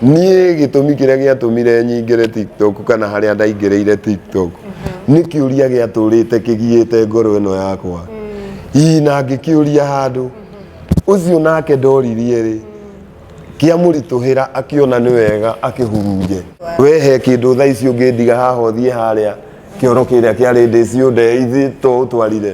Niĩ gĩtũmi kĩrĩa gĩatũmire nyingĩre TikTok kana harĩa ndaingĩrĩire TikTok mhm. nĩ kĩũria gĩatũrĩte kĩgiĩte ngoro ĩno yakwa hihi mm. na ngĩkĩũria handũ mhm. ũcio nake ndoririe rĩ kĩamũritũhĩra akĩona nĩ wega akĩhurunje we he kĩndũ thaa ici ũngĩndiga haha ũthiĩ harĩa kĩoro kĩrĩa kĩarĩ ndĩciũnde ithiĩ to ũtwarire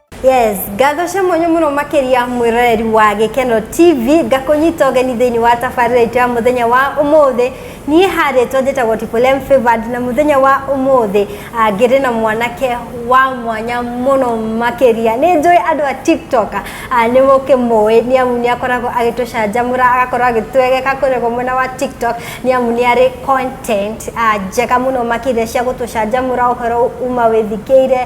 yes ngatho cia mwanya mũno makĩria mwĩroreri wa gĩkeno tv ngakũnyita ũgeni thĩinĩ wa tabarĩra itũ ya mũthenya wa ũmũthĩ niĩ harĩtwo njĩtagwo tipolem favored na mũthenya wa ũmũthĩ ah, ngĩrĩ na mwanake wa mwanya mũno makĩria nĩ njũĩ andũ a tiktok ah, nĩ mũkĩmũĩ nĩ amu nĩ akoragwo agĩtũcanjamũra agakorwo agĩtwegeka kũrĩgwo mwena wa tiktok nĩ amu nĩ arĩ content ah, njega mũno makĩria cia gũtũcanjamũra ũhoro uma wĩthikĩire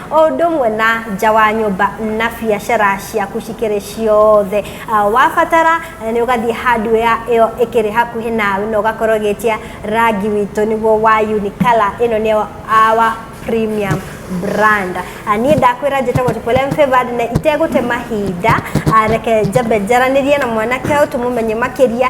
o ũndũ ũmwe na nja wa nyũmba na biacara ciaku cikĩrĩ ciothe Ah, wabatara eh, nĩ ũgathiĩ handũ ya ĩyo ĩkĩrĩ hakuhĩ nawe na ũgakorwo ũgĩtia rangi witũ nĩguo wa unikala ĩno nĩ our premium brand Ah, niĩ ndakwĩra njĩtagwo Tipolem Favored na itegũte mahinda ah, reke njambe njaranĩrie na mwanake ũyũ tũmũmenye makĩria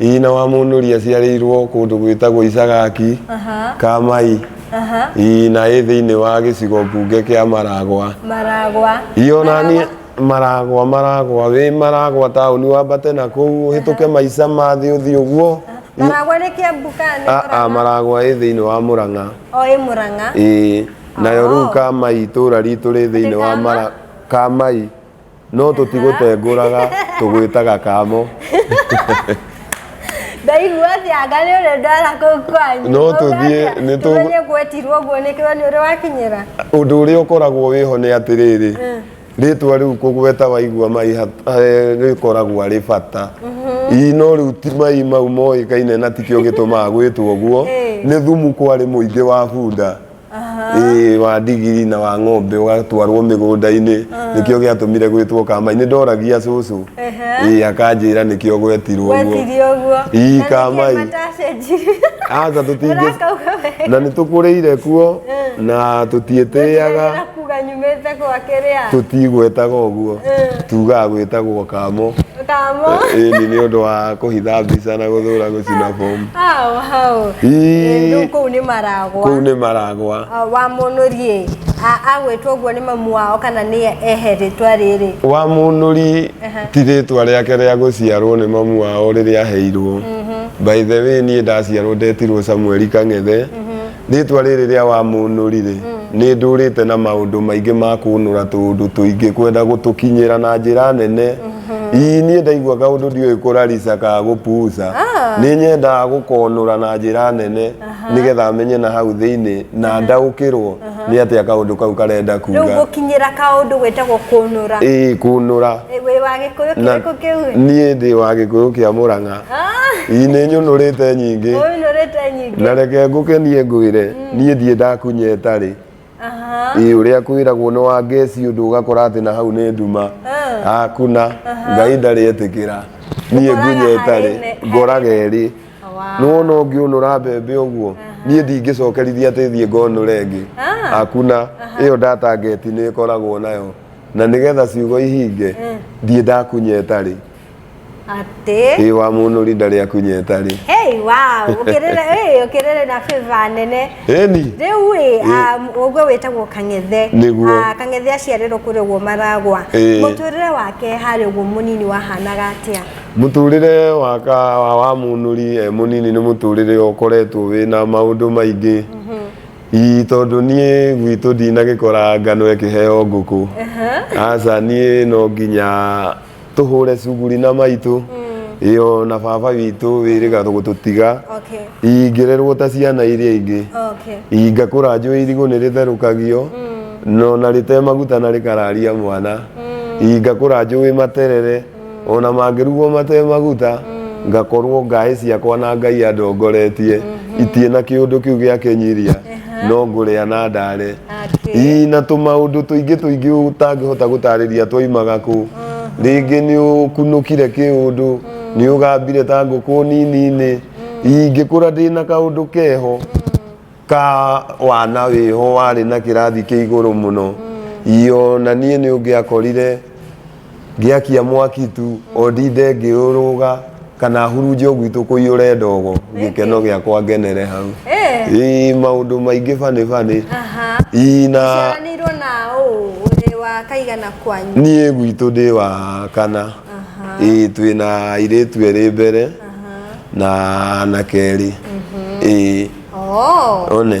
Nyina wa Mũnũri aciarĩirwo kũndũ gwĩtagwo Icagaki, Aha, Kamai, aha. ii, na ĩ thĩinĩ wa gĩcigo mbunge kĩa Maragwa. Maragwa. Ionania Maragwa, Maragwa, wĩ Maragwa taũni wambate na kũu ũhĩtũke maica ma thĩ ũthiĩ ũguo. Maragwa nĩ Kiambu ka nĩ Aa, Murang'a? Maragwa ĩ thĩinĩ wa Mũrang'a. O ĩ Murang'a. Ĩĩ, nayo Oh. rĩu Kamai itũũra ritũ rĩ thĩinĩ wa Kama? Mara- Kamai. no tũtigũtengũraga tũgwĩtaga kamo ndaigua atĩ anga nĩ ũrĩa ndwara kũu kwanyu No tũthiĩ, nĩ tũ- tũmenye gwetirwo guo nĩ kĩo nĩ ũrĩ wakinyĩra ũndũ ũrĩa ũkoragwo wĩho nĩ atĩrĩrĩ rĩtwa rĩu kũgweta waigua mai hat- eh, rĩkoragwo arĩ bata ii no rĩu ti mai mau moĩkaine na tikĩo gĩtũmaga gwĩtwo ũguo Ĩĩ. nĩ thumu kwarĩ mũingĩ wa bunda Ĩĩ, wa ndigiri na wa ng'ombe ũgatwarwo mĩgũnda-inĩ nĩkĩo gĩatũmire gwĩtwo kama nĩ ndoragia cũcũ Ĩĩ, akanjĩra nĩkĩo gwetirwo ũguo gwetirio ũguo Ii, Na nĩkĩo kamai. matacenjirie. aca tũtingĩ Ũrakauga wega. na nĩ tũkũrĩire kuo na tũtiĩtĩaga Gũtigĩra Kuga nyumĩte gwake rĩa. tũtigwĩtaga ũguo Eh. tugaga gwĩtagwo kamo Kamo. ĩni nĩ ũndũ wa kũhitha mbica na gũthũra gũcina bomu Hao hao. Ii. Rĩu kũu nĩ maragwa. kũu nĩ maragwa Ah, wa mũnũri agwĩtwo ũguo nĩ mamu wao kana nĩ ehe rĩtwa rĩrĩ wa mũnũri Aha. ti rĩtwa rĩake rĩa gũciarwo nĩ mamu wao rĩrĩa aheirwo by the way niĩ ndaciarwo ndetirwo samueli kang'ethe rĩtwa rĩrĩ rĩa wamũnũrire nĩ ndũrĩte na maũndũ maingĩ ma kũnũra tũũndũ tũingĩ kwenda gũtũkinyĩra na njĩra nene ii niĩ ndaigua kaũndũ ndiũĩ kũrarica ka gũpuca nĩ nyendaga gũkonũra na njĩra nene nĩgetha menye na hau thĩinĩ na ndaũkĩrwo nĩ atĩa kaũndũ kau karenda rĩu kuga gũkinyĩra kaũndũ gwĩtagwo kũnũra ĩĩ kũnũra Ĩ, wĩ wa gĩkũyũ na kĩrĩkũ kĩu niĩ ndĩ wa gĩkũyũ kĩa mũrang'a ii nĩ nyũnũrĩte nyingĩ ũyũ nũrĩte nyingĩ na reke ngũkenie ngwĩre mm. niĩ ndiĩ ndakunyeta rĩ ĩ ũrĩa kwĩragwo nĩ wa ngeci ũndũ ũgakora atĩ na hau nĩ nduma mm. hakuna uh-huh. ngai ndarĩ etĩkĩra niĩ ngunyeta rĩ ngoraga erĩ nĩ wona ũngĩũnũra mbembe ũguo uh-huh. niĩ ndingĩcokerithia atĩ thiĩ ngonũre ĩngĩ ah. hakuna uh-huh. ĩyo ndatangeti nĩ ĩkoragwo nayo na nĩgetha ciugo ihinge mm. ndiĩ ndakunyeta rĩ Atĩ. Ĩ wa mũnũri ndarĩ akunyeta rĩ. Hey, wow. Ũkĩrĩre, hey, ũkĩrĩre na favor nene. Eni. Rĩu ĩ, um, ũguo wĩtagwo Kang'ethe. Nĩguo. Ah, Kang'ethe aciarĩrwo kũrĩa ũguo Maragwa. Ĩĩ. Mũtũrĩre wake harĩ ũguo mũnini wahanaga atĩa? Mũtũrĩre waka wa wa mũnũri e mũnini nĩ mũtũrĩre ũkoretwo wĩna maũndũ maingĩ. Ii tondũ niĩ gwitũ ndinagĩkora ngano ĩkĩheo ngũkũ. Aca niĩ no nginya tũhũre cuguri na maitũ ĩyo na baba witũ wĩrĩga gũtũtiga Okay. ingĩrerwo ta ciana iria ingĩ Okay. ingakũra njũĩ irigũ nĩ rĩtherũkagio no na rĩte maguta na rĩkararia mwana ingakũra njũĩ materere ona mangĩrugwo mate maguta ngakorwo ngaĩ ciakwa na ngai andongoretie itie na kĩũndũ kĩu gĩakenyiria no ngũrĩa na ndare ii na tũmaũndũ tũingĩ tũingĩ ũtangĩhota gũtarĩria twaimaga kũ rĩngĩ nĩ ũkunũkire kĩũndũ nĩ ũgambire ta ngũkũ nini-inĩ ingĩkũra ndĩ na kaũndũ keho ka wana wĩho warĩ na kĩrathi kĩa igũrũ mũno ii ona niĩ nĩ ũngĩakorire Ngĩakia mwaki tu, o ndinde ngĩũrũga, kana hurunje o gwitũ kũiyũre ndogo, gĩkeno gĩakwa ngenere hau. Eh. Ĩĩ maũndũ maingĩ funny funny. Aha. Ii na Ciaranĩirwo na ũ ũrĩ wa kaigana kwanyu. niĩ gwitũ ndĩ wa kana. Aha. Ĩĩ twĩ na airĩtu erĩ mbere Aha. na anake erĩ. Ĩĩ Oh. one.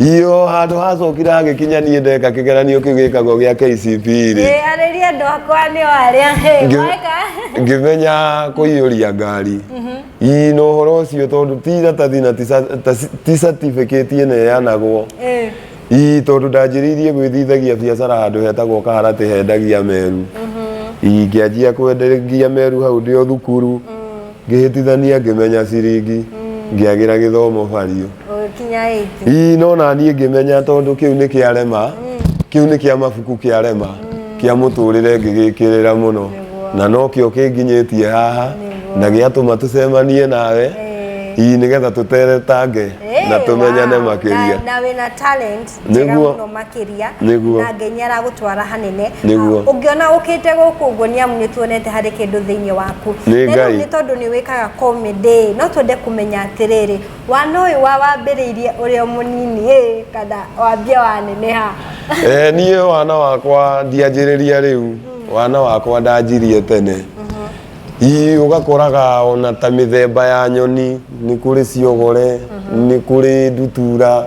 Iyo handå hacokire hagĩkinya niĩ ndeka kĩgeranio kĩu gĩkagwo gĩa KCPE rĩ Ĩ, arĩria andå akwa nä o arä a Ngĩ- weka ngĩmenya kũiyũria ngari ii na ũhoro ũcio tondå ti iratathi na ti sa- ta ci- ti certificate ĩneanagwo Ĩ, ii tondå ndanjĩrĩirie gwĩthithagia biacara handå hetagwo kaharatĩ hendagia meru ingĩanjia kwendagia meru hau ndĩ o thukuru Ngĩhĩtithania ngĩmenya ciringi ngĩagĩra gĩthomo bariũ ũgĩkinya ĩti ii no naniĩ ngĩmenya tondũ kĩu nĩ kĩarema kĩu nĩ kĩa mabuku kĩarema kĩa mũtũrĩre ngĩgĩkĩrĩra mũno Nĩguo. na nokĩo kĩnginyĩtie haha Nĩguo. na gĩatũma tũcemanie nawe Ĩĩ. ii nĩgetha tũteretange na Ĩĩ, tũmenyane wow. makĩria Na- na wĩna talent njega Nĩguo. mũno makĩria Nĩguo. na ngai nĩ aragũtwara hanene Nĩguo. Ah, ũngĩona ũkĩte gũkũ ũguo nĩ amu nĩ tuonete harĩ kĩndũ thĩinĩ waku Nĩ Na rĩu Ngai. nĩ tondũ nĩ wĩkaga comedy no twende kũmenya atĩrĩrĩ wana ũyũ wa wambĩrĩirie ũrĩ o mũnini ĩ kana wambia waneneha Eh, niĩ wana wakwa ndianjĩrĩria rĩu wana wakwa ndanjirie tene Ii, ũgakoraga ona ta mĩthemba ya nyoni nĩ kũrĩ ciogore nĩ kũrĩ ndutura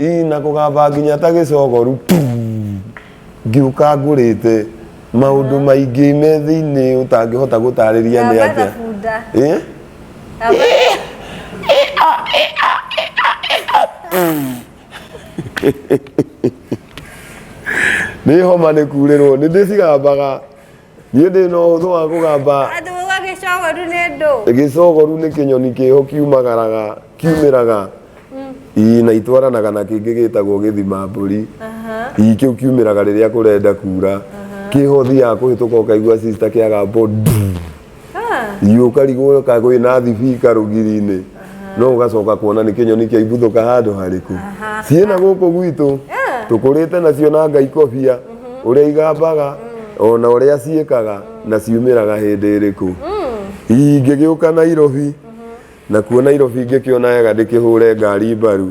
ii na kũgamba nginya ta gĩcogoru puu, ngĩũka ngũrĩte maũndũ maingĩ me thĩinĩ ũtangĩhota gũtarĩria nĩ Gamba na atĩa bunda. Eh? Gamba- nĩ homa nĩ kurĩrwo nĩ ndĩcigambaga niĩ ndĩ na ũhũthũ wa kũgamba andũ uga gĩcogoru nĩ ndũ gĩcogoru nĩ kĩnyoni kĩho kiumagaraga kiumĩraga ii na itwaranaga na kĩngĩ gĩtagwo gĩthima mbũri ii kĩu kiumĩraga rĩrĩa kũrenda kura kĩho thiaga kũhĩtũka ũkaigua sister kĩagamba ũũ, nduu. iũka rigũrũ kagwĩ na thibi karũgiri-inĩ no ũgacoka kuona nĩ kĩnyoni kĩa ibuthũka handũ harĩku ciĩ na gũkũ gwitũ tũkũrĩte nacio na ngai kobia ũrĩa igambaga ona ũrĩa ciĩkaga na ciumĩraga hĩndĩ ĩrĩkũ ingĩgĩũka nairobi na kuo nairobi ingĩkĩona wega ndĩkĩhũre ngari mbaru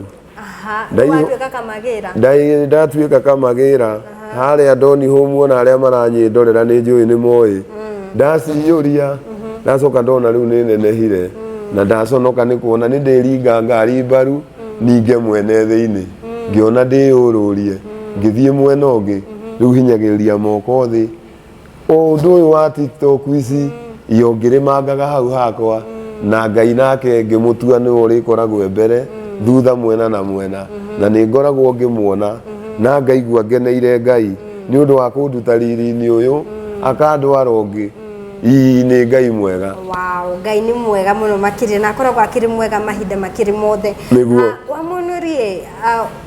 ndatuĩka kamagĩra harĩa ndoni hũmu ona arĩa maranyĩndorera nĩ njũĩ nĩ moĩ mm. ndaciyũria mm-hmm. ndacoka ndona rĩu nĩ nenehire mm. na ndaconoka nĩ kuona nĩ ndĩringa ngari mbaru mm. ninge mwene thĩinĩ ngĩona ndĩyũrũrie ngĩthiĩ mwena ũngĩ mm-hmm. rĩu hinyagĩrĩria moko thĩ o ũndũ ũyũ wa tiktok ici iyo ngĩrĩmangaga hau hakwa na ngai nake ngĩmũtua nĩwe ũrĩkoragwo e mbere thutha mwena na mwena na nĩ ngoragwo ngĩmuona na ngaigua ngeneire ngai nĩ ũndũ wa kũnduta riri-inĩ ũyũ akandwara ũngĩ ii nĩ ngai mwega wow ngai nĩ mwega mũno makĩria na akoragwo akĩrĩ mwega mahinda makĩrĩ mothe Nĩguo. Ah, wamunurie ah,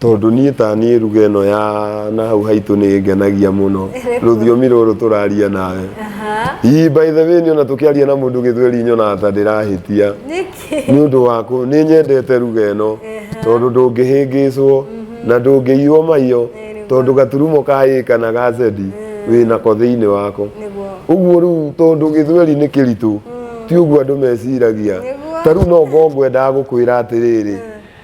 Tondũ niĩ ta niĩ ruga ĩno ya na hau haitũ nĩ ĩngenagia mũno rũthiomi rũrũ tũraria nawe ii by the way niona tũkĩaria na mũndũ gĩthweri nyonaga ta ndĩrahĩtia nĩ ũndũ waku nĩ nyendete ruga ĩno tondũ ndũngĩhĩngĩcwo mhm. na ndũngĩiywo maiyo tondũ gaturumo ka ĩ kana ga zedi mm. wĩ nako thĩinĩ wako ũguo rĩu tondũ gĩthweri nĩ kĩritũ mm. ti ũguo andũ meciragia ta rĩu no ngorwo ngwendaga gũkwĩra atĩrĩrĩ mm.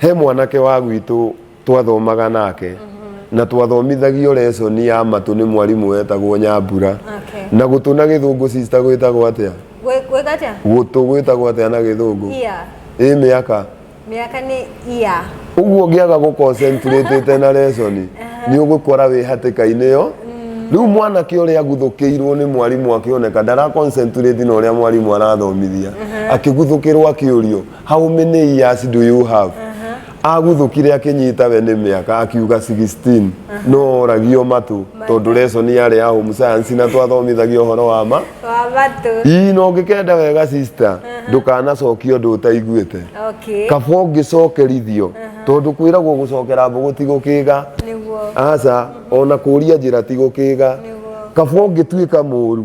He mwanake wa gwitũ twathomaga nake mhm. na twathomithagio lesson ya matũ nĩ mwarimũ wetagwo Nyambura okay. na gũtũ na gĩthũngũ sister gwĩtagwo atĩa gũtũ gwĩtagwo atĩa na gĩthũngũ ĩ mĩaka mĩaka nĩ ia ũguo ũngĩaga gũ concentrate na lesson uh-huh. nĩ ũgũkora wĩ hatĩka-inĩ yo mm. rĩu mwanake ũrĩa aguthũkĩirwo nĩ mwarimũ akĩoneka ndara concentrate na ũrĩa mwarimũ arathomithia uh-huh. akĩguthũkĩrwo akĩũrio how many years do you have aguthũkire akinyita we nĩ mĩaka akiuga 16 no oragio matũ tondũ reco nĩ yarĩ ya home science na twathomithagio ũhoro wa ma wa matũ ii no ngĩkenda wega sister ndũkanacokia ũndũ ũtaiguĩte okay kaba ũngĩcokerithio tondũ kwĩragwo gũcokera mbũgũ ti gũkĩga nĩguo aca ona kũria njĩra ti gũkĩga Nĩguo. kaba ũngĩtuĩka mũru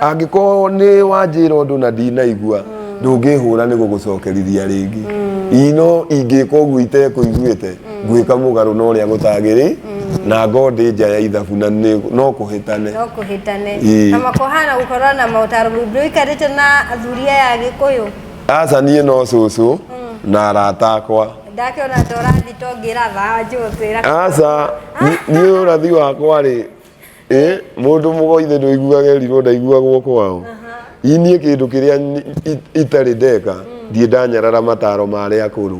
angĩkorwo nĩ wanjĩra ũndũ na ndinaigua ndũngĩhũra nĩ gũgũcokerithia rĩngĩ Ii no ingĩka ũguo itekũiguĩte ngwĩka mũgarũ na ũrĩa gũtagĩrĩ na ngo ndĩ nja ya ithabu na nĩ- no kũhĩtane no kũhĩtane Ĩĩ. na makohana gũkorwo na maũtaro mũndũ ũikarĩte na athuri aya agĩkũyũ aca niĩ no cũcũ na arata akwa ndakĩona ta ũrathi tongĩra thaa njũthĩra aca ni- niĩ ũrathi wakwa rĩ ĩ mũndũ mũgoithe ndũiguaga erirwo ndaiguagwo kwao iniĩ kĩndũ kĩrĩa ni- i- itarĩ ndeka ndiĩ ndanyarara mataro ma arĩa akũrũ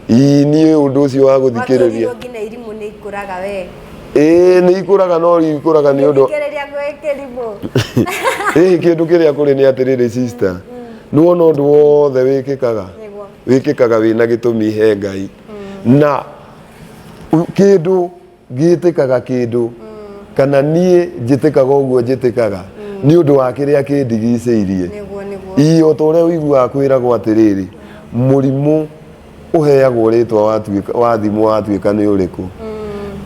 iniĩ ũndũ ũcio wa gũthikĩrĩria Watũrirwo nginya irimũ nĩ ikũraga we ĩĩ nĩ ikũraga no ikũraga nĩ ũndũ thikĩrĩria gwĩ kĩrimũ ĩĩ kĩndũ kĩrĩa kũrĩ nĩ atĩrĩrĩ sister nĩwona ũndũ wothe wĩkĩkaga Nĩguo. wĩkĩkaga wĩna gĩtũmi he ngai na u- kĩndũ gĩtĩkaga kĩndũ kana niĩ njĩtĩkaga ũguo njĩtĩkaga nĩ ũndũ wa kĩrĩa kĩndigicĩirie nĩguo nĩguo ii o ta ũrĩa ũiguaga kwĩragwo atĩrĩrĩ mũrimũ ũheagwo rĩtwa watuĩka- wathimwo watuĩka nĩ ũrĩkũ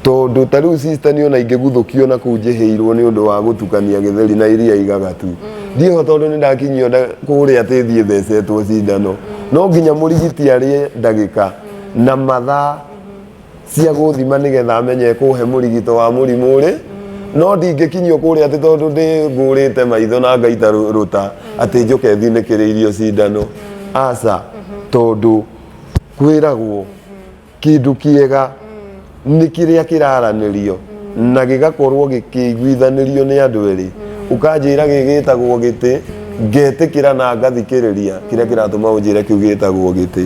tondũ ta rĩu sister nĩ ona ingĩguthũkio na kũu njĩhĩirwo nĩ ũndũ wa gũtukania gĩtheri na iria igagatu ndiho tondũ nĩ ndakinyio nda- kũrĩa tĩthiĩ thecetwo cindano no nginya mũrigiti arĩe ndagĩka na mathaa cia gũthima nĩgetha menye kũhe mũrigito wa mũrimũ ũrĩ no ndingĩkinyio kũrĩa atĩ tondũ ndĩ ngũrĩte maitho na ngaita rũ- rũta atĩ njoke thinĩkĩrĩirio cindano aca tondũ kwĩragwo kĩndũ kĩega nĩ kĩrĩa kĩraranĩrio na gĩgakorwo gĩkĩiguithanĩrio nĩ andũ erĩ ũkanjĩra gĩgĩtagwo gĩtĩ ngetĩkĩra na ngathikĩrĩria kĩrĩa kĩratũma ũnjĩre kĩu gĩtagwo gĩtĩ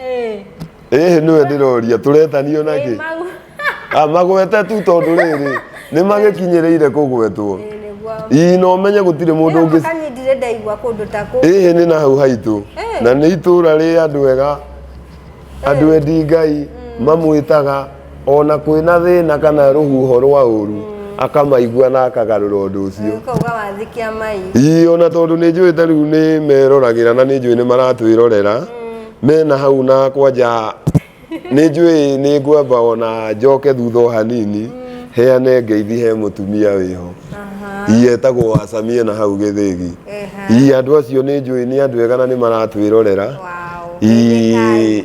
Eh. ĩhĩ nĩwe ndĩroria tũretanio nakĩ Eh, mau. Ah, magwete tu tondũ rĩrĩ nĩ magĩkinyĩrĩire kũgwetwo Eh, nĩguo. ii na ũmenye gũtirĩ mũndũ Ĩra ũngĩ makani ndirĩ ndaigua kũndũ ta kũu. ĩhĩ nĩ na hau haitũ Eh. na nĩ itũũra rĩ andũ ega andũ endi ngai mamwĩtaga O na kwĩna thĩna kana rũhuho rwa ũru akamaigua na akagarũra ũndũ ũcio Ũkauga wathi kĩa mai. ii ona tondũ nĩ njũĩ ta rĩu nĩ meroragĩra na nĩ njũĩ nĩ maratwĩrorera mena hau na kwanja nĩ njũĩ nĩ ngwamba ona njoke thutha o hanini heane ngeithi he mũtumia wĩho Aha. ii etagwo wacamie na hau gĩthĩgi Eha. ii andũ acio nĩ njũĩ nĩ andũ ega na nĩ maratwĩrorera Wow. Ii, Thirikari.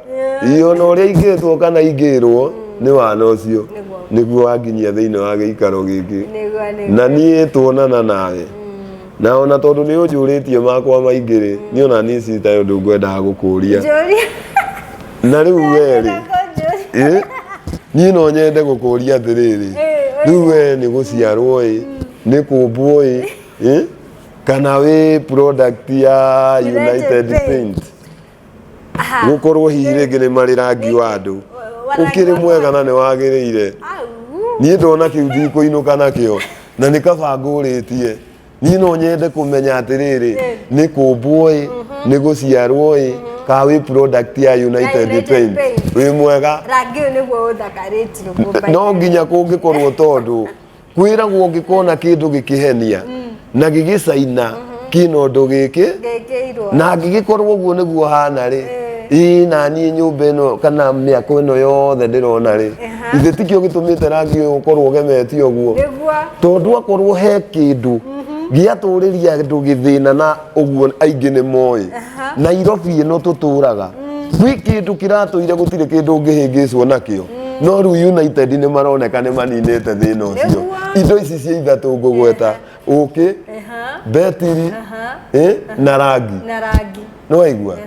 Ii ona ũrĩa ingĩtwo kana ingĩrwo nĩ wana ũcio nĩguo wanginyia thĩinĩ wa gĩikaro gĩkĩ na niĩ tuonana nawe na ona tondũ nĩ ũnjũrĩtie makwa maingĩ-rĩ niĩ ona niĩ citaĩ ũndũ ngwendaga gũkũria Njũria. na rĩu we-rĩ Njũria. ĩ, niĩ no nyende gũkũria atĩrĩrĩ Ĩ, rĩu we nĩ gũciarwo ĩ nĩ kũmbwo ĩ ĩ, kana wĩ product ya United United Paint. Paint gukorwo hihi rĩngĩ nĩ marĩ rangi wa andũ ũkĩrĩ mwega na nĩ wagĩrĩire niĩ ndona kĩu ndikũinũka nakĩo na nĩ kaba ngũrĩtie niĩ no nyende kũmenya atĩrĩrĩ nĩ kũmbwo ĩ mhm. nĩ gũciarwo ĩ mhm. ka wĩ product ya United Paint wĩ mwega no nginya kũngĩkorwo tondũ kwĩragwo ũngĩkona kĩndũ gĩkĩhenia na gĩgĩcaina kĩna ũndũ gĩkĩ ngĩkĩirwo na angĩgĩkorwo ũguo nĩguo hana rĩ ĩĩ na niĩ nyũmba ĩno kana mĩako ĩno yothe ndĩrona rĩ Aha. ithe tikĩo gĩtũmĩte rangi ũyũ ũkorwo ũgemetie ũguo nĩguo tondũ akorwo he kĩndũ gĩatũrĩria andũ gĩthĩna na uguo aingi ni moy nairobi ino tuturaga gwi mm. kindu kiratuire gutire kindu ngihingicwo nakio mm. no riu united ni maroneka ni maninite thina ucio indo ici cia ithatu ngugweta uki betiri eh? na rangi no aigua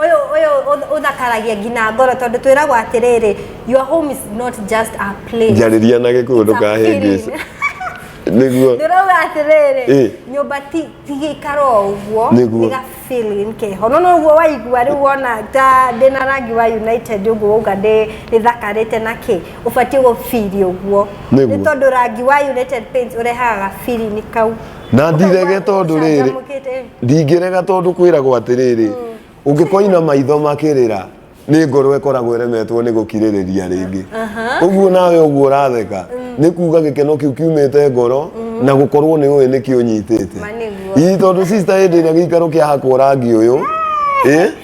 Ũyũ ũyũ ũth- ũthakaragia nginya ngoro tondũ twĩragwo atĩrĩrĩ your home is not just a place. njarĩria na gĩkũyũ ndũkahĩngĩce nĩguo Ndĩrauga atĩrĩrĩ Ĩ. nyũmba ti ti gĩikaro o ũguo Nĩguo. nĩ ga feeling keho no noguo waigua rĩu wona ta ndĩ na rangi wa United ũguo wauga ndĩ ndĩthakarĩte na kĩ ũbatiĩ gũbiri ũguo Nĩguo. nĩ tondũ rangi wa United Paints ũrehaga ga feeling kau na ndirege tondũ rĩrĩ Ũcanjamũkĩte. ndingĩrega tondũ kwĩragwo atĩrĩrĩ ũngĩkoina maitho makĩrĩra nĩ ngoro ĩkoragwo ĩremetwo nĩ gũkirĩrĩria rĩngĩ ũguo nawe ũguo ũratheka nĩ kuga gĩkeno kĩu kiumĩte ngoro na gũkorwo nĩ ũĩ nĩkĩ ũnyitĩte Ma nĩguo. ii tondũ sister hĩndĩ ĩrĩa gĩikaro kĩahakwo rangi ũyũ ĩ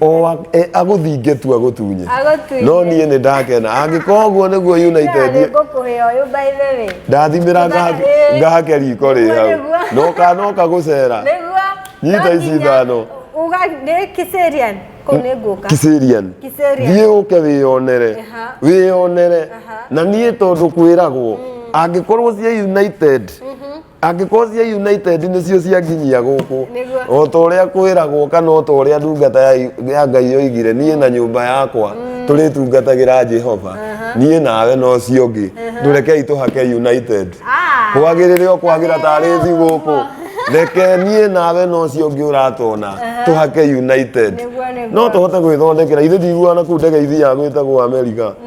o a- e- agũthinge tu agũtunye Agũtunye. no niĩ nĩ ndakena angĩkorwo ũguo nĩguo united ngũkũhĩa ũyũ by the way ndathimĩra Tũna- ĩĩ. ngahake riko rĩ hau Nĩguo. noka noka gũcera nĩguo Nyita no ici nginya ithano. uga nĩ kiserian kũu nĩ ngũka kiserian Kiserian. thiĩ ũke wĩyonere Aha. wĩyonere Aha. na niĩ tondũ kwĩragwo angĩkorwo cia united angĩkorwo cia united nĩcio cianginyia gũkũ Nĩguo. o ta ũrĩa kwĩragwo kana o ta ũrĩa ndungata ya ya ngai yoigire niĩ na nyũmba yakwa tũrĩtungatagĩra jehova niĩ nawe na ũcio ũngĩ ndũrekei tũhake united Ah. kwagĩrĩre o kwagĩra tarĩ thi gũkũ reke niĩ nawe na ũcio ũngĩ ũratona tũhake united Nĩguo, nĩguo. no tũhote gwĩthondekera ithe ndiguana kũu ndege ithi ya gwĩtagwo amerika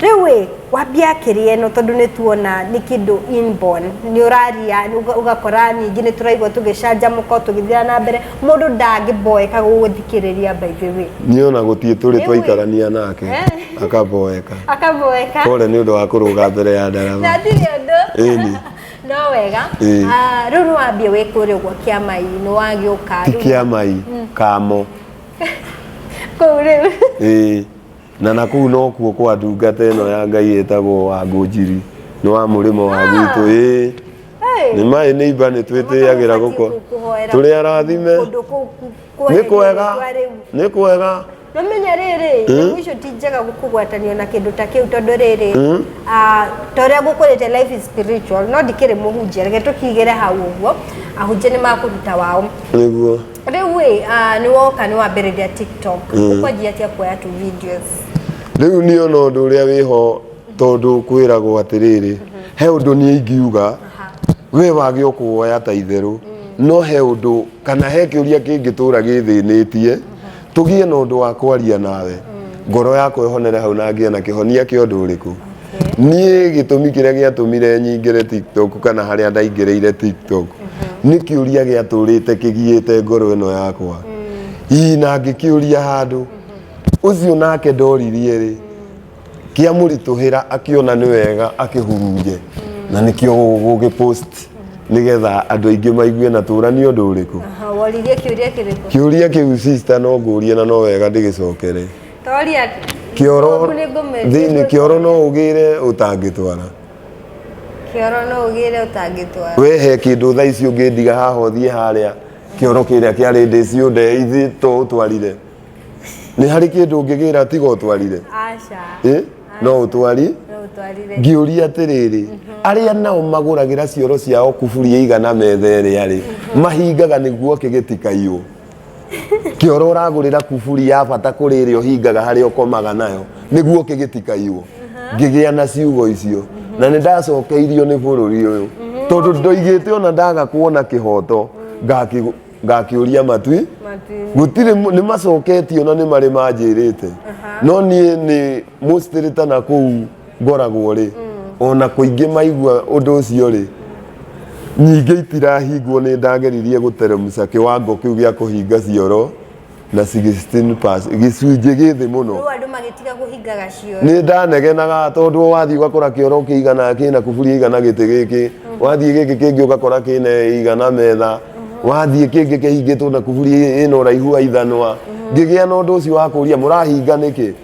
Rĩu ĩ, wambia kĩrĩa ĩno tondũ nĩ tuona nĩ kĩndũ inborn, nĩ ũraria ũga- ũgakora ningĩ nĩ tũraigua tũgĩcanjamũka o tũgĩthiaga na mbere, mũndũ ndangĩboeka gũgũthikĩrĩria by the way. niĩ ona gũtirĩ tũrĩ Rĩu ĩ. twaikarania nake Eh. akaboeka Akaboeka. kore nĩ ũndũ wa kũrũga mbere ya ndarama Ndatire ũndũ. Ĩni. No wega. Ĩĩ. Ah, Rĩu nĩ wambia wĩ kũrĩa ũguo kĩama-ĩ, nĩ wagĩũka. ti rĩu- kĩa mai kamo Kũu rĩu. ĩĩ Na na kũu nokuo kwa ndungata ĩno ya Ngai ĩtagwo Wangũnjiri nĩ wa mũrĩmo wa gwitũ ĩĩ nĩ maĩ nĩ imba nĩ twĩtĩyagĩra gũko tũrĩ arathime kũndũ kũu ku- nĩ kwega kwa rĩu. nĩ kwega No menya rĩrĩ nyamũ icio ti njega kũgwatanio na kĩndũ ta kĩu tondũ rĩrĩ ah, ta ũrĩa gũkũrĩte life is spiritual no ndikĩrĩ mũhunjia reke tũkigĩre hau ũguo ahunjia nĩ makũruta wao nĩguo Rĩu ĩ, ah, nĩ woka nĩ wambĩrĩria TikTok. Ũkwanjia atĩa kuoya tu videos? rĩu niĩ ona ũndũ ũrĩa wĩho tondũ kwĩragwo atĩrĩrĩ he ũndũ niĩ ingiuga we wage o kũwoya ta itherũ no he ũndũ kana he kĩũria kĩngĩtũra gĩthĩnĩtie tũgĩe na ũndũ wa kwaria nawe ngoro yakwa ĩhonere hau na ngĩe na kĩhonia kĩa ũndũ ũrĩkũ niĩ gĩtũmi kĩrĩa gĩatũmire nyingĩre tiktok kana harĩa ndaingĩrĩire tiktok nĩ kĩũria gĩatũrĩte kĩgiĩte ngoro ĩno yakwa ii na ngĩkĩũria handũ ũcio nake ndoririe rĩ kĩamũritũhĩra akĩona nĩ wega akĩhurunje na nĩkĩo gũgĩ post nĩgetha andũ aingĩ maigue na tũra nĩ ũndũ ũrĩkũ Aha, woririe kĩũria kĩrĩkũ? kĩũria kĩu sister no ngũrie na no wega ndĩgĩcokere Toria atĩ. kĩoro Ngũkũ nĩ ngũmĩendia thĩinĩ indo kĩoro no ũgĩre ũtangĩtwara Kĩoro no ũgĩre ũtangĩtwara. we he kĩndũ thaa ici ũngĩndiga haha ũthiĩ harĩa kĩoro kĩrĩa kĩarĩ ndĩ ciũnde ithiĩ to ũtwarire nĩ harĩ kĩndũ ũngĩgĩra tiga ũtwarire Aca. Ĩ, no ũtwari No ũtwarire. ngĩũria atĩrĩrĩ arĩa nao magũragĩra cioro ciao kuburi ĩigana metha ĩrĩa rĩ mahingaga nĩguo kĩgĩtikaiywo kioro uragurira kuburi ya bata kuri iri uhingaga hari ukomaga nayo niguo kigitikairwo ngigia na ciugo icio na ni ndacokeirio ni bururi uyu tondu ndoigite ona ndaga kuona kihoto ngaki- ngakiuria matwi Matini. gutire nä macoketio na nä marä manjä rä te no niä nä må citä na kå u ngoragwo rĩ o na kũingĩ maigua ũndũ ũcio rĩ nyingĩ itirahingwo nĩ ndageririe gũteremca kĩwango kĩu gĩa kũhinga cioro na 16 pass gĩcunjĩ gĩ thĩ mũno Rĩu andũ magĩtiga kũhingaga cioro. nĩ ndanegenaga tondũ wathiĩ ũgakora kĩoro kĩigana kĩna kuburi igana gĩtĩ gĩkĩ wathiĩ gĩkĩ kĩngĩ ũgakora kĩna igana metha wathiĩ kĩngĩ kĩhingĩtwo na kuburi ĩna ũraihu wa ithanwa ngĩgĩa na ũndũ ũcio wa kũria mũrahinga nĩkĩ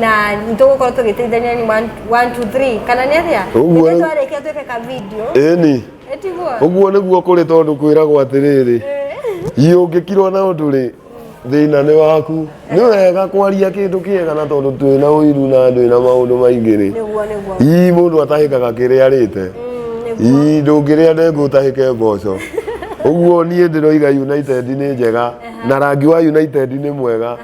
na nitũgũkorwo tũgĩteithania ni 1 2 3 kana nĩ atĩa Ũguo. Ithe twarĩkia twĩke ka video ĩni etiguo ũguo nĩguo kũrĩ tondũ kwĩragwo atĩrĩrĩ iũngĩkirwo na ũndũ rĩ thĩna nĩ waku nĩ wega kwaria kĩndũ kĩega na tondũ twĩ na ũiru na andũ na maũndũ maingĩ rĩ nĩguo nĩguo ii mũndũ atahĩkaga kĩrĩa arĩte ii ndũngĩrĩa ndengũ ũtahĩke mboco ũguo niĩ ndĩroiga united nĩ njega na rangi wa united nĩ mwega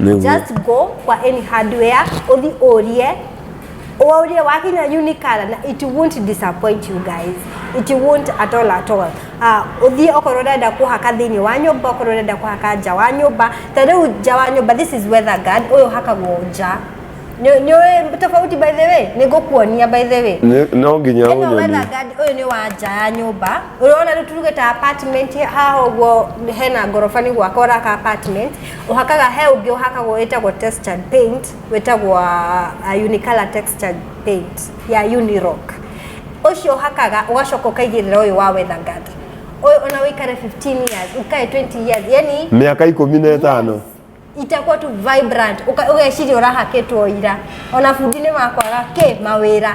Nĩguo. just go kwa any hardware uthi urie urie wakinya unikala na it won't disappoint you guys it won't at all at all ah uthi okorwo urenda kuhaka thiini wa nyumba okorwo urenda kuhaka nja wa nyumba ta riu nja wa nyumba this is weather guard uyu hakagwo nja ni ni ũĩ tofauti by the way ni ngukuonia by the way Nĩ- no nginya ĩno ũnyonie weather guard ũyũ nĩ wa nja ya nyũmba ũrona rĩu turuge ta apartment haha ũguo hena ngoroba nĩ gwaka ũraka apartment Ũhakaga, he ũngĩ ũhakagwo wĩtagwo textured paint, wĩtagwo uh, unicolor textured paint ya Unirock. Ũcio ũhakaga ũgacoka ũkaigĩrĩra ũyũ wa Weatherguard. Ũyũ ona wĩikare 15 years, ũkae 20 years, yani mĩaka ikũmi na ĩtano itakuwa tu vibrant Uka- ũgeciria ũrahakĩtwo ira ona bundi nĩ makwaga kĩ mawĩra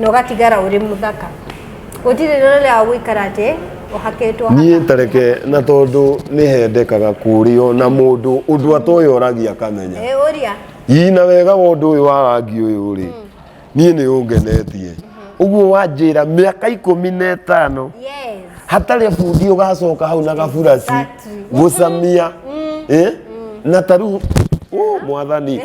na ũgatigara ũrĩ mũthaka gũtirĩ rĩrĩa wa gũikara atĩ ũhakĩtwo niĩ tareke na tondũ nĩ hendekaga kũrĩo na mũndũ ũndũ atoĩ oragia akamenya Eh, ũria ii na wega wa ũndũ ũyũ wa rangi ũyũ rĩ niĩ nĩ ũngenetie ũguo wanjĩra mĩaka ikũmi na ĩtano yes hatarĩ bundi ũgacoka hau na gaburasi Exactly. gũcamia Eh? na tarĩu ũ mwathani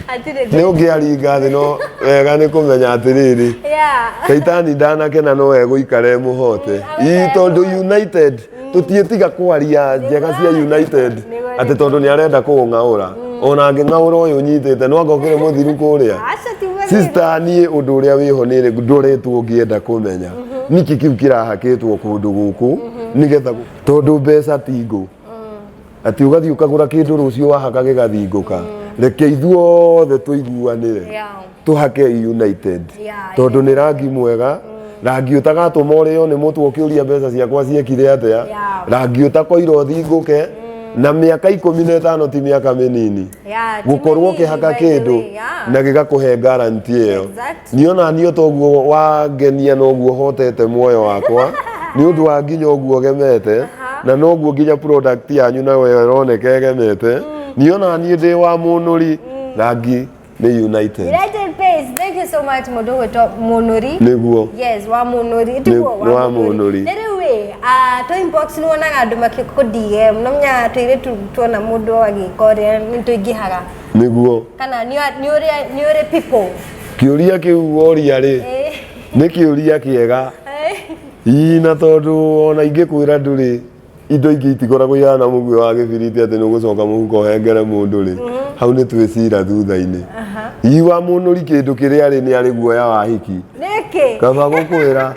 Hatirĩ nĩ ũngĩaringa thĩ no wega nĩ kũmenya atĩrĩrĩ Yeah. shaitani ndanakena no egũikara e mũhote ii tondũ united tũtiĩtiga kwaria njega cia united atĩ tondũ nĩ arenda kũũng'aũra ona angĩng'aũra ũyũ nyitĩte no angokĩre mũthiru kũrĩa Aca ti mũthuri. sista niĩ ũndũ ũrĩa wĩho nĩ ndoretwo ngĩenda kũmenya niki kĩu kĩrahakĩtwo kũndũ gũkũ nĩgetha tondũ mbeca ti ngũ Ati ugathi ukagura kindu rucio wahaka gigathingũka. Reke ithuothe tuiguanire. Yeah. Tuhake United. Yeah, Tondu yeah. ni rangi mwega. Rangi utagatuma urio ni mutu ukiuria mbeca ciakwa ciekire atia. Yeah. Rangi utakoira uthinguke. Na miaka ikumi na itano ti miaka minini. Yeah, ti gukorwo minini, ukihaka by the kindu way, yeah. na gigakuhe guarantee iyo. Exactly. niĩ ona niĩ toguo wangenia noguo hotete muoyo wakwa nĩ ũndũ wa nginya ũguo gemete na noguo nginya product yanyu nayo ĩroneka ĩgemete niĩ ona niĩ ndĩ wa mũnũri rangi nĩ united United Pace, thank you so much mũndũ gwĩtwo mũnũri nĩguo yes wa mũnũri tiguo Nĩ- wa mũnũri. na rĩu ĩ ah, to inbox nĩ wonaga andũ makĩkũ DM no menya twĩrĩtu tuona mũndũ agĩka ũrĩa nĩ tũingĩhaga nĩguo kana nĩ nĩ ũrĩ nĩ ũrĩ people kĩũria kĩu woria rĩ Eh, nĩ kĩũria kĩega eh. ii na tondũ ona ingĩkwĩra ndũrĩ indo ingĩ itikoragwo ihana mũguĩ wa gĩbiriti atĩ nĩ ũgũcoka mũhuko ũhengere mũndũ rĩ hau nĩ twĩcira thutha-inĩ Aha. ii wa mũnũri kĩndũ kĩrĩa arĩ nĩ arĩ guoya wa hiki nĩkĩ kaba gũkwĩra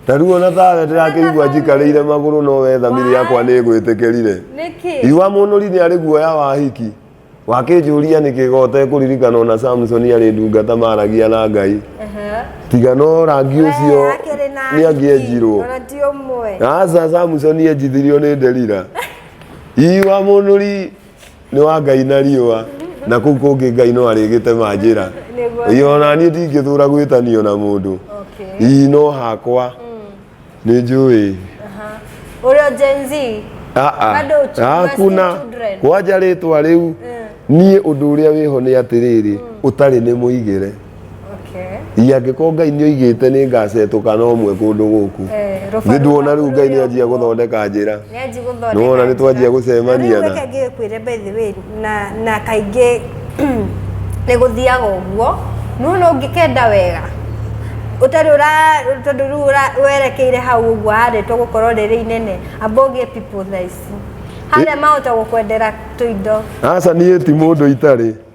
na rĩu ona thawe ndĩrakĩigua njikarĩire magũrũ no we thamiri yakwa nĩ ĩgwĩtĩkĩrire nĩkĩ iwa mũnũri nĩ arĩ guoya wa hiki wakĩnjũria nĩkĩ gote kũririkana ona samsoni arĩ ndungata maragia na ngai Aha. tiga no rangi ũcio Wee, akĩrĩ na nĩ angĩenjirwo ona ti ũmwe aca samsoni enjithirio nĩ nderira iwa mũnũri nĩ wa ngai na riũa na kũu kũngĩ ngai no arĩgĩtema njĩra Nĩguo. Ĩ, ona niĩ ndingĩthũra gwĩtanio na mũndũ Okay. ii no hakwa nĩ njũĩ Ũrĩa Gen Z. Ah, ah. Bado uchi- you are hakuna still children. kwanja rĩtwa rĩu niĩ ũndũ ũrĩa wĩho nĩ atĩrĩrĩ ũtarĩ nĩ mũigĩre Okay. Ĩ, angĩkorwo ngai nĩ oigĩte nĩ ngaacetũka na ũmwe kũndũ gũkũ Eh, nĩ rũbaru nduona rĩu ngai nĩ rũrĩa- anjia gũthondeka njĩra Nĩanji gũthondeka Nĩ wona nĩ twanjia njĩra. gũcemania Na rĩu na- reke ngĩkwĩre by the way na na kaingĩ nĩ gũthiaga ũguo nuona ũngĩkenda wega ũtarĩ ũra tondũ rĩu ũra- werekeire hau ũguo harĩtwo gũkorwo rĩrĩ inene amba ũgĩe people tha ici harĩa mahota gũkwendera tũindo aca niĩ ti mũndũ itarĩ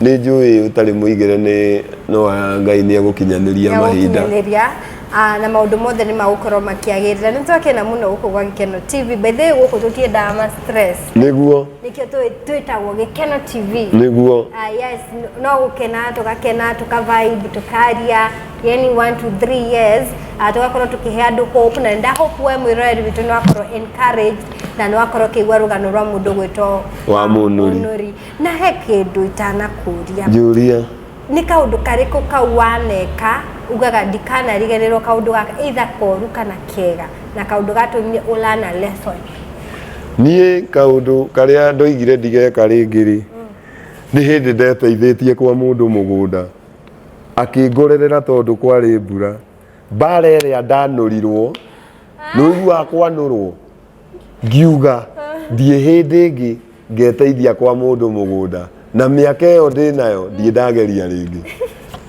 Nĩ njũĩ ũtarĩ mũigĩre nĩ no wa Ngai nĩ egũkinyanĩria mahinda. Nĩegũkinyanĩria na maũndũ mothe nĩ magũkorwo makĩagĩrĩra. Nĩ twakena mũno gũkũ gwa Gĩkeno TV. By the way gũkũ tũtiendaga ma stress. Nĩguo. Nĩkĩo twĩtagwo Gĩkeno TV. Nĩguo. Ah, yes, no gũkena tũgakena tũka vibe tũkaria yani one to three years ah, tũgakorwo tũkĩhe andũ hope na nda hope we mwĩroreri witũ nĩ wakorwo encouraged na nĩ wakorwo ũkĩigua rũgano rwa mũndũ gwĩtwo wa mũnũri Na he kĩndũ itanakũria. Njũria. Nĩ kaũndũ karĩkũ kau waneka ugaga ndikanariganĩrwo kaũndũ gaka either koru kana kega na kaũndũ gatũmire ũ learn a lesson? Niĩ kaũndũ karĩa ndoigire ndigeka rĩngĩ rĩ, nĩ hĩndĩ ndeteithĩtie kwa mũndũ mũgũnda akĩngorerera tondũ kwarĩ mbura. Mbara ĩrĩa ndanũrirwo, nĩ ũiguaga kwanũrwo? Ngiuga, Ndirĩ hĩndĩ ĩngĩ ngeteithia kwa mũndũ mũgũnda. Na mĩaka ĩyo ndĩ nayo, ndirĩ ndageria rĩngĩ.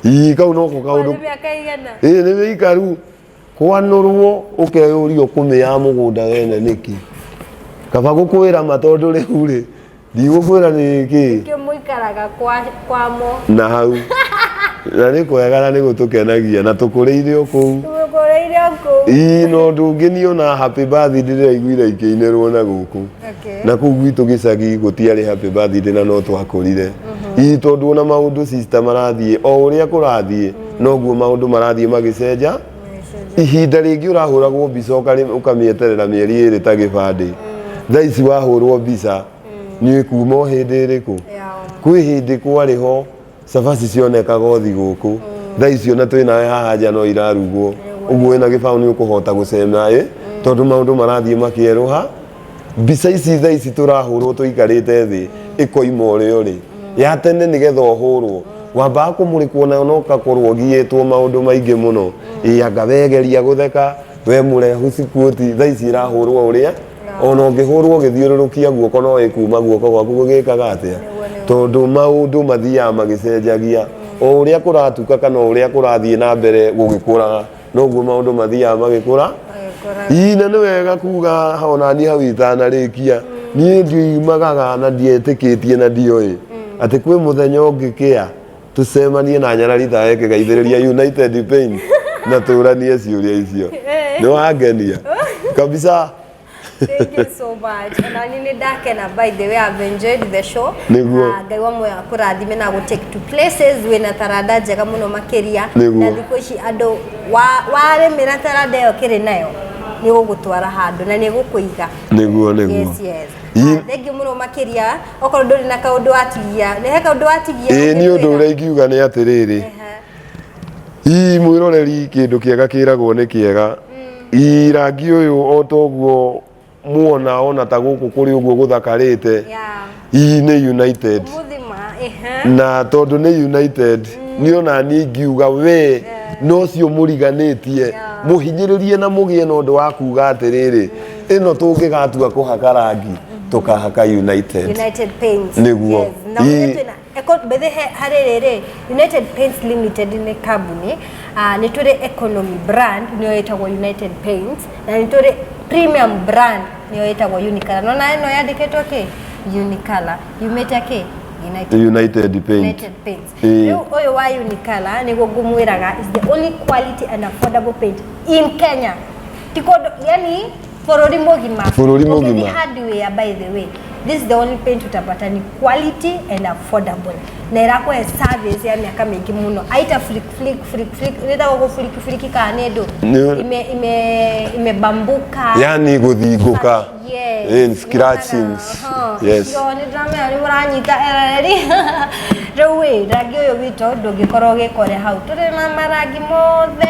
Ii, kau noko kaũndũ. Nĩ mĩaka ĩigana? Ĩĩ nĩ mĩikaru. Kwanũrwo ũkeyũria ũkũmĩaga mũgũnda wene nĩkĩ. Kaba gũkũĩra ma tondũ rĩu rĩ. ndigũkwĩra nĩ kĩ Nĩkĩo mũikaraga kwa kwamo. na hau na nĩ kwega na nĩ gũtũkenagia na tũkũrĩire o kũu Tũgũkũrĩire o kũu. ii no ũndũ ũngĩ niĩ ona happy birthday ndĩraiguire ikĩinĩrwo na gũkũ Okay. na kũu gwitũ gĩcagi gũtiarĩ happy birthday na no twakũrire ii tondũ ona maũndũ sister marathiĩ o ũrĩa kũrathiĩ noguo maũndũ marathiĩ magĩcenja ihinda rĩngĩ ũrahũragwo mbica ũkarĩ- ũkamĩeterera mĩeri ĩrĩ ta gĩbandĩ thaa ici wahũrwo mbica nĩ kuma o hĩndĩ ĩrĩkũ kwĩ hĩndĩ kwarĩ ho cabaci cionekaga othi gũkũ thaa icio na twĩ nawe haha nja no irarugwo ũguo wĩna gĩbaũ nĩ ũkũhota gũcema ĩ tondũ maũndũ marathiĩ makĩerũha mbica ici tha ici tũrahũrwo tũikarĩte thĩ ĩkoima ũrĩa ũrĩ ya tene nĩ getha ũhũrwo wambaga kũmũrĩkwo nayo na ũgakorwo ũgiĩtwo maũndũ maingĩ mũno ĩ anga wegeria gũtheka we mũrehu cikuoti tha ici ĩrahũrwo ũrĩa ona ũngĩhũrwo ũgĩthiũrũrũkia guoko no ĩkuma guoko gwaku gũgĩkaga atĩa tondũ maũndũ mathiaga magĩcenjagia o ũrĩa kũratuka kana o ũrĩa kũrathiĩ na mbere gũgĩkũraga noguo maundu mathiaga magikura ii na ni wega kuga ona ni hau itanarikia ni ndiumagaga na ndietikitie na ndioi ati kwi muthenya ungikia tucemanie na nyarari ta eke gaithiriria united pain na turanie ciuria icio ni wangenia kabisa Thank you so much. Ona ni nĩ ndakena by the way I've enjoyed the show. Nĩguo. Na Ngai wa moyo akũrathime na gũtake to places wĩna taranda njega mũno makĩria. Nĩguo. Na thikũ ici andũ wa- warĩmĩra taranda ĩyo kĩrĩ nayo nĩ gũgũtwara handũ na nĩ gũkũiga. nĩguo nĩguo Yes, yes. Ii- Ah, Thank you mũno makĩria. Okorwo ndũrĩ na kaũndũ watigia, nĩ he kaũndũ watigia? ĩĩ niĩ ũndũ ũrĩa ingiuga nĩ atĩrĩrĩ Ehe. ii mwiroreri kindu kiega kiragwo ni kiega ii rangi uyu o toguo muona ona ta guku kuri uguo guthakarite Yeah. ii ni united Muthima. Ehe. na tondu ni united ni ona ni ngiuga we no cio muriganitie muhinyiririe na mugie na undu wa kuga atiriri ino tungigatua kuhaka rangi tukahaka united United Paints. Nĩguo. Yes. Na Ii- ũrĩa twĩna Mbethe harĩ rĩrĩ, United Paints Limited nĩ kambuni, nĩ tũrĩ economy brand nĩyo ĩtagwo United Paints, na nĩ tũrĩ premium brand nĩyo ĩtagwo Unicolor. Nĩ wona ĩno yandĩkĩtwo kĩ? Unicolor. Yumĩte kĩ? United, United Paint. United Paints. Ĩĩ. Rĩu ũyũ wa Unicolor nĩguo ngũmwĩraga is the only quality and affordable paint in Kenya. Ti kũndũ, yani bũrũri mũgima bũrũri mũgima hardware by the way this is the only paint utapata ni quality and affordable na irakuhe service ya miaka mingi muno aita flick flick flick flick rita go flick flick ka ne ndo ime ime ime bambuka yani guthinguka yes in scratchings yes yo ni drama ya muranyita ereri rĩu ĩ rangi ũyũ witũ ndũngĩkorwo ũgĩkore hau tũrĩ na marangi mothe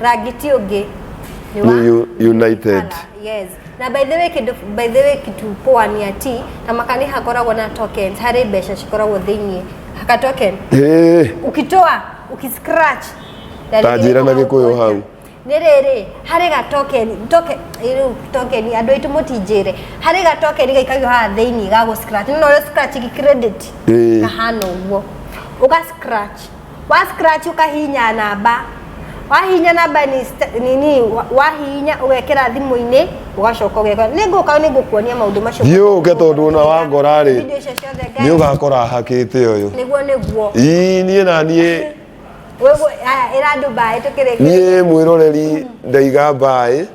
Ragiti ũngĩ nĩ wa- Nĩ U- United. Yes. Na by the way kindu by the way kitu poa ni ati na makani hakoragwo na tokens hari mbeca cikoragwo thiini haka token Hey, ukitoa ukiscratch Tanjĩra na Gĩkũyũ hau. nĩ rĩrĩ harĩ ga token token rĩu token andũ aitũ mũtinjĩre harĩ ga token gaikagio haha thĩinĩ ga gũ scratch nĩ ũrĩa scratch gi credit Ĩĩ. kahana ũguo ũga scratch Wa scratch ũkahihinya namba. Wahihinya namba ni st- nini wa- wahihinya ũgekĩra thimũ-inĩ ũgacoka ũgeka. Nĩ ngũka nĩ ngũkuonia maũndũ macio. Thiĩ ũke tondũ ona wangora rĩ, Video icio ciothe ngai- nĩ ũgakora hakĩte ũyũ Nĩguo nĩguo. ii niĩ na niĩ Wewe aya ĩra Dubai tũkĩrĩkia. niĩ mwĩroreri ndaiga mbaĩ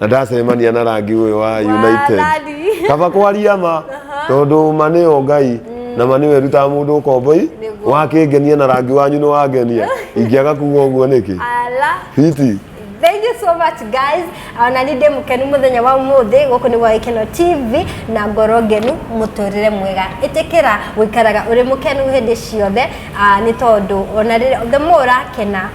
na ndacemania na rangi ũyũ wa United Wathani. kaba kwaria ma tondũ ma nĩ o ngai na ma nĩwe rutaga mũndũ ũkomboi Nĩguo. wakĩngenia na rangi wanyu nĩ wangenia ingĩaga kuga ũguo nĩkĩ Ala. fiti Thank you so much guys. Ah, Na nĩ ndĩ mũkenu mũthenya wa ũmũthĩ gũkũ nĩ gwa Gĩkeno TV na ngoro ngenu mũtũrĩre mwega. Ĩtĩkĩra gũikaraga ũrĩ mũkenu hĩndĩ ciothe ah, nĩ tondũ ona rĩrĩa the more ũrakena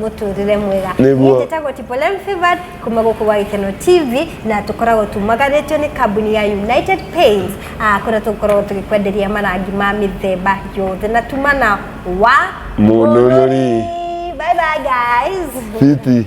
mũtũrĩre mwega Nĩguo. Niĩ njĩtagwo Tipolem Favored kuma gũkũ gwa Gĩkeno TV na tũkoragwo tumaganĩtio nĩ kambuni ya United Paints ah, kũrĩa tũkoragwo tũgĩkwenderia marangi ma mĩthemba yothe na tuma na wa Mũnũrũri. Bye bye guys Fiti.